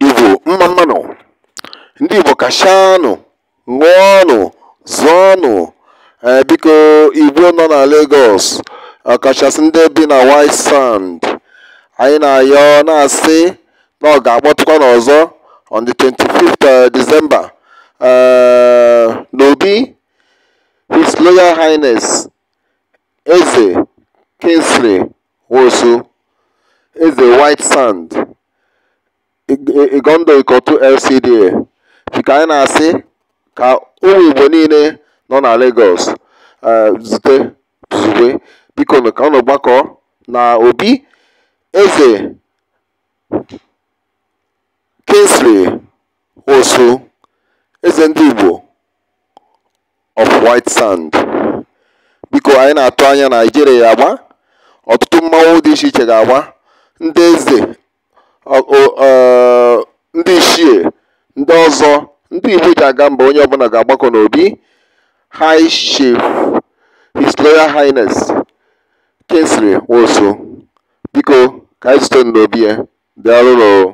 Igbo mma mma nụ ndị Igbo kashanụ ṅụọnụ zụọnụ ee biko Igbo nọ na Lagos ọkachasị ndị bi na White Sand anyị na-ayọ na-asị na ọ ga-akpọtụkwanụ ọzọ on the 25th eh, December eh, n'obi His Royal Highness Eze Kingsley Nwosu, Eze White Sand, Igando Ikotun LCDA, biko anyị na-asị ka ụmụ Igbo niile nọ na Lagos eh, zute zube biko ka unu gbakọ na Obi Eze Kingsley Nwosu, Eze ndị Igbo of white sand biko anyị na-atụ anya na Ijele ya-agba ọtụtụ mmanwụ dị iche iche ga-agba ndị eze ọ- ọ- ọ, ndị ichie ndị ọzọ ndị igbo ji aga mba onye ọbụla ga-agbakọ n'obi high chief his royal highness kingsley nwosu biko ka anyị zute n'obi ya daalụnụ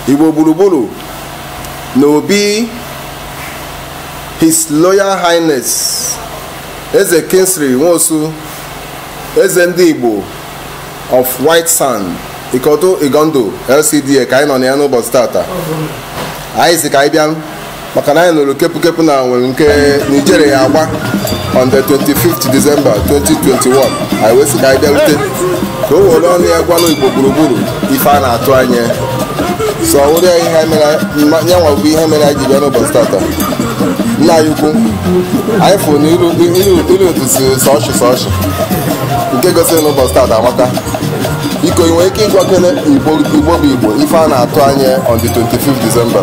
Igbo gburugburu na Obi His Royal Highness Eze Kingsley Nwosu Eze ndị Igbo of White Sand Ikotun Igando LCDA ka anyị nọ na ya n'ụbọchị tata anyị sị ka anyị bịa maka na anyị nụrụ kepụkepụ na nwere ike na Ijele ya-agba on the 25th December 2021 anyị wee sị ka anyị bịarute ka o were ọnụ ya gwanụ Igbo gburugburu ife a na-atụ anya so ọ wụrụ ya ihe anyị mere mma- nyanwa bụ ihe mere anyị ji bịa n'ụbọchị tata nna anyị ukwu anyị fụrụ na iru iru- iru otu si sọ ọchị sọ ọchị nke gosiri na ụbọchị tata amaka biko ị nwere ike ịgwakene igbo igbo bụ igbo ife a na-atụ anya on the 25th December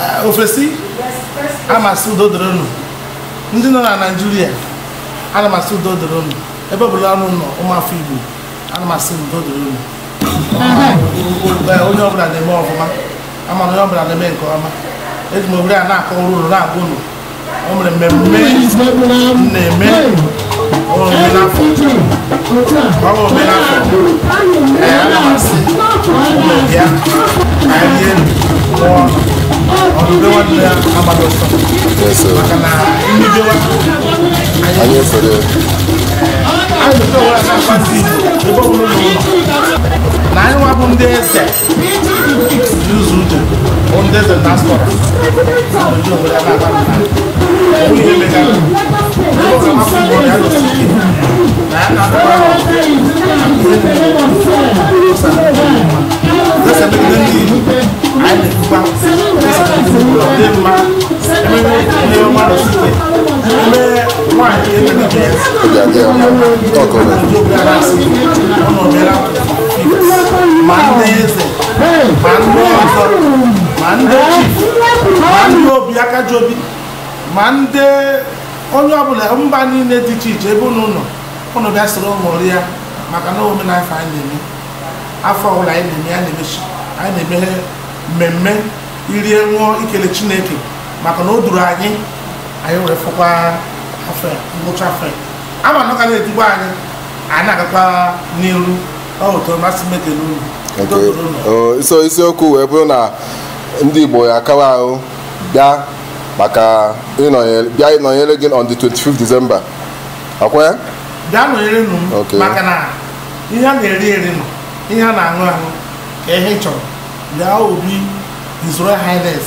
Eh, ofesi ana m asị udo dịrị unu ndị nọ na naijiria ana m asị udo dịrị unu ebe ọ bụla unu nọ ụmụafọ igbo ana m asị udo dịrị unu onye ọbụla na-eme ọfụma ama m na onye ọbụla na-eme nke ọma eji m ohere a na-akọrọ unu na-agwa unu o nwere mmemme na-eme omenafọ ọrụ omenafọ ee ana m asị unu bịa ka anyị rie ṅụọ ọnụ ube nwanne ya agbala ọsọ maka na mbidowa anyị efere anyị na-akpazi ebe ọbụla unu nọ anyị nwa bụ ndị eze Talk on it. ma ndị eze ma ndị ọzọ ma ndị ichie ma ndị obi aka ji obi ma ndị onye ọbụla mba niile dị iche iche ebe unu nọ unu bịa soro ṅụrụ ya maka na omenala afọ anyị na-eme afọ ọbụla anyị na-eme ya na-emechi anyị na-eme mmemme irie ṅụọ ikele Chineke maka na o duru anyị anyị were fụkwa afọ ya ngwụcha afọ ya a ma na ọ ga na-edukwa anyị a na-agakwa n'iru ọ ụtọ masị m ekele unu Udo Okay. dịrị unu. Oh, so isiokwu wee bụrụ na ndị Igbo ya akawa ahụ bịa maka ịnọnyere bịa ịnọnyere gị on the 25th December ọ kwa ya bịa nọnyere nụ m Okay. maka na ihe a na-eri eri nọ ihe a na-aṅụ aṅụ ka ihe ị chọrọ bịa obi His Royal Highness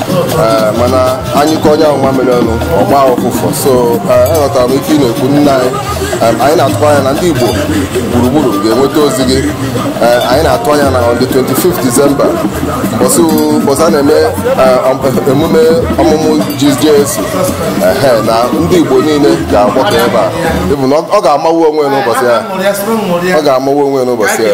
Eh, mana anyị ka onye ahụ nwa mere ọnụ ọgba ụfụfụ so aghọtara eh, m ife ị na-ekwu nna anyị eh, anyị na-atụ anya na ndị Igbo gburugburu ga-enweta ozi gị anyị na-atụ anya na on the 25th December mbọsị a na-eme emume ọmụmụ Jesu na ndị Igbo niile ga-agbakọ ebe a ịfụ na ọ ga-amawu onwe n'ụbọchị ya ọ ga-amawu onwe n'ụbọchị ya